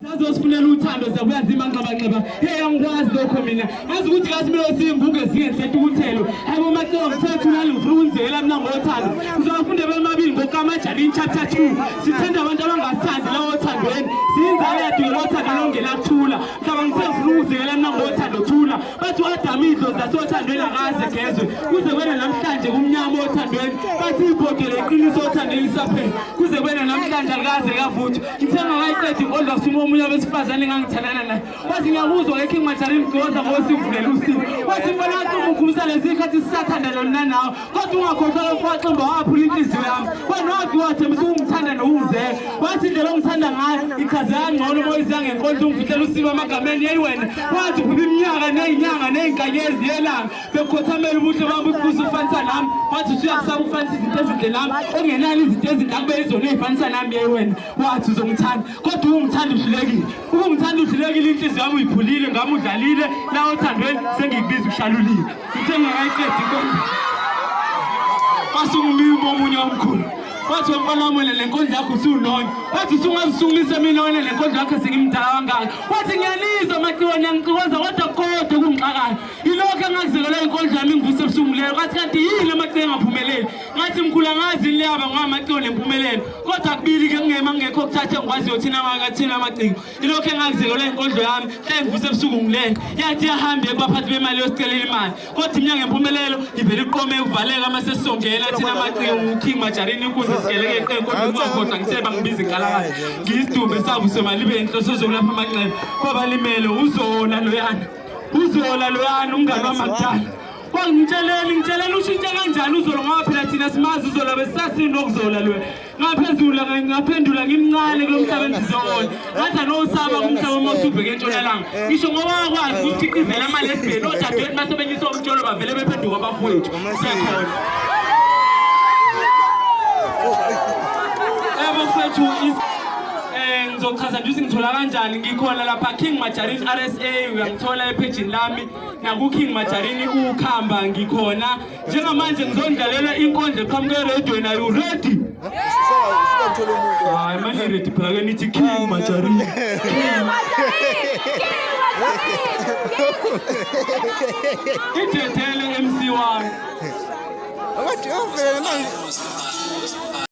sazosifunela uthando siyabuya nzima nxabanxeba hey angikwazi lokho mina azi ukuthi kasimele simbuke singesetha ukuthelo hayi bomacela ngithetha ulali ngifuna ukunzekela mina ngothando ngizawafunda bemabili ngokamajarini chapter 2 sithanda abantu abangasithandi lawo othandweni siyinzalo yethu ngelothando longela kuthula mhlaba ngithe ngifuna ukuzekela mina ngothando thula bathi u-adamu idlozi lasothandweni akaze gezwe kuze kwena namhlanje kumnyama othandweni bathi ibhodela iqiniso othandweni lisaphela kuze kwena namhlanje alikaze kavuthwa Ngithe ngakayiqedi inkonzo asuma omunye abesifazane engangithandana naye wathi ngiyakuzwa ke King Majari mgcoza ngosivulela usivu wathi mfana wathi umugumisa lezi ikhathi sisathandana mina nawe kodwa ungakhohlwa lokho waximba waphula inhliziyo yami wena wathi wathembisa ukungithanda nokungizeka wathi indlela ongithanda ngayo ichaze kangcono uma uyizanga nkonzo ungifihlela usivu amagameni yeyi wena wathi uphupha iminyaka neyinyanga neyinkanyezi yelanga bekhothamela ubuhle bami ubuze ufanisa nami wathi usuyakusaba ufanisa izinto ezinhle nami ongenalo izinto ezinhle akube izona ezifanisa nami ye wena wathi uzongithanda kodwa ungithanda uhlulekile ukungithanda uhlulekile inhliziyo yami uyiphulile ngami udlalile la othandweni sengikubiza ushalulile uthe ngingakayiqedi inkonzo wasungumimi omunye omkhulu wathi wemfana wami wena le nkondla yakho usuwunonya wathi usungazisukumisa mina wena le nkondla yakho sengimdala kangaka wathi ngiyanizwa maciwane angixikoza kodwa kodwa kungixakayo Ilokhu engakuzelelwa inkondlo yami ngivuse ebusuku leyo ngathi kanti yini amacele engaphumeleli ngathi mkhulu angazi yini leyaba ngamacele nempumelelo kodwa kubili ke kungema ngekho okuthathe ngikwazi yothina ngakathina amacingo ilokhu engakuzelelwa inkondlo yami hla ngivuse ebusuku ngilele yathi yahamba ebaphathi bemali yosicelela imali kodwa imnyango empumelelo ivele iqome uvaleka uma sesisongela thina amacingo nguking majarini inkunzi sigeleke eqenko ngingakhohlwa ngiseba ngibiza inkalakala ngiyisidumbe savusemalibeni inhloso zokulapha amanxeba kwabalimele uzola loyana uzola loyani umngane wamakudala wangitsheleli ngitshelele ushintshe kanjani uzolo ngoba phela thina simazi uzola besisasinokuzola lwe ngaphezula ngaphendula ngimncane kulo mhlaba endizowona ngathi anowusaba kumhlaba uma usubheke entshonalanga ngisho ngoba wakwazi ukusikhiqizela amalesbheni odadewethu basebenzisa umtsholo bavele bephenduka abafowethu siyakhona ebo fethu Eh ngizochaza nje ngithola kanjani ngikhona lapha King Majarini RSA uyangithola ephejini lami naku King Majarini ukhamba ngikhona njengamanje ngizondlalela inkondlo eqhamuke radio na you ready Hayi manje ready phela ke nithi King Majarini King Majarini Idethele MC wami Abathi uvele manje